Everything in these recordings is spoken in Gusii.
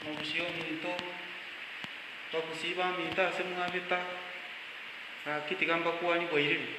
Morusie omonto bagosiba aminto ase mwabeta, gaki tiga mbakuani bwairire.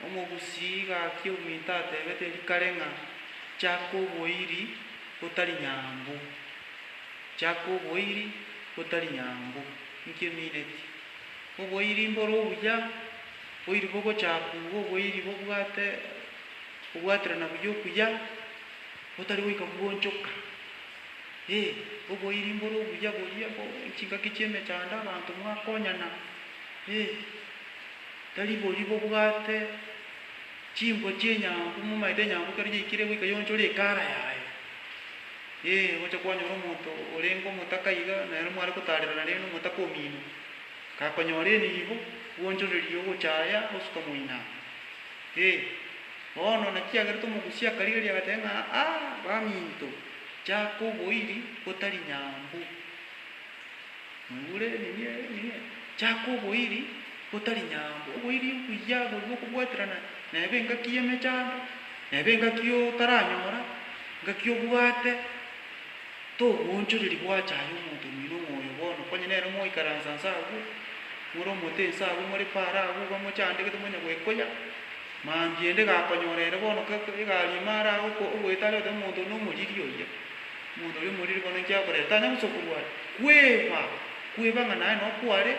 Omogusii gaki ominto atebete rikare ng'a chaka oboiri botari nyambu, chaka oboiri botari nyambu, inki emineti? Oboiri mbore obuya, boiri bogochakwa igo oboiri bobwate obwaterana buya okuya. otari goika koonchoka, ee, oboiri mbore obuya boria bo chingaki chi'emechando abanto mwakonyana, ee, tari boria bobwate chimbwa chi'enyambu momaete enyambu ekero yaikire goika yaonchore ekara yaye, ee, gocha kwanyora omonto orenge omotaka iga nere mware gotarera nere na omotaka omino, gakonyora enibo, gwoonchoreria ogochaaya osuka moino aa, ee. Bono naki agerete omogusi akarigeria agateba ng'a, Aa, baminto, chaka oboiri gotari nyambu. Mwaigure? Nini ere? Nini ere? Chaka oboiri gotari nyambu. Oboiri obuya oboria bw'okobwaterana neba engaki y'emechando, neba engaki otaranyora, engaki obwate, togoonchoreri bwacha aye omonto omino ng'a oyo bono konya nere mwaikaransa nse agwo, more omote nse agwo, more paaro agwo, iga mochandegete, monyagwekoya. Mambia ende gakonyora ere bono egari ime are aye ogoeta are otebe omonto one omoriri oria. Omonto oria omoriri bono inki akorera? Tanya gosa okorwa are. Kweba! Kweba ng'a naye nokware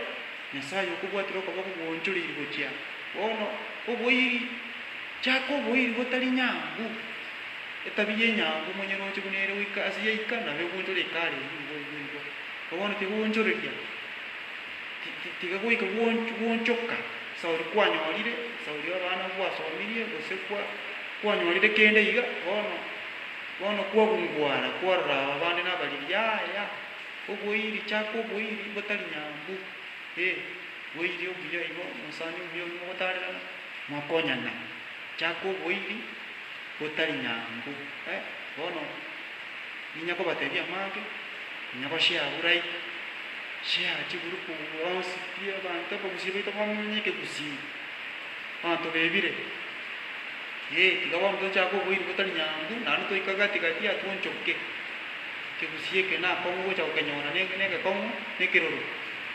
Nyasaye okobwatire okoboko gwoonchoreiri gochia bono. Oboiri! Chaka oboiri botari nyangu. Etabia enyangu monyeroche buna ere goika ase yaika nabo egoonchora ekare eyio nigo oigwe igwa. Igo bono tigoonchoreria, tiga goika gwoonchoka. Sauli kwanyorire, Sauli abana bwasomirie, gose kwa, kwanyorire kende iga, bono, bono kwagungwana kwarora aba bande nabariri, yaya, oboiri, chaka oboiri, botari nyambu, eh, boiri obuya igo, omosani omuya oyio mogotarerana, mwakonyana, chaka oboiri, Gotari nyambu, eh, bono ninya kobatebia amage, ninya goshare burai, share chiburuku onsi pi abanto ebagusii baito bamonye ekegusii, abanto bebire, eh, tiga bono tochake oboiri botari nyambu, naende toika gati gati aa twonchoke, ekegusii eke na akong'u ogocha gokenyora ne ne egekong'u na ekiroro,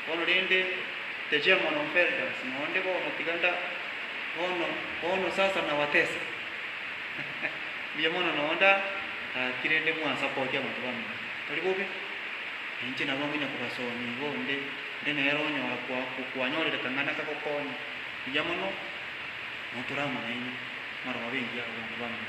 bono rende the chairman of elders na onde bono tiga nda bono bono sasa nawatesa. Mbuya mono nonya onde aakire inde mwasapoti abanto bamino. Tari bobe. Nainche nabo ngonya kobasoonia igo onde onde nere onyora kwanyorire kang'ana kagokonya. Mbuya mono. Notore amo nainwe. Mwarorobe engiya abanto bamino.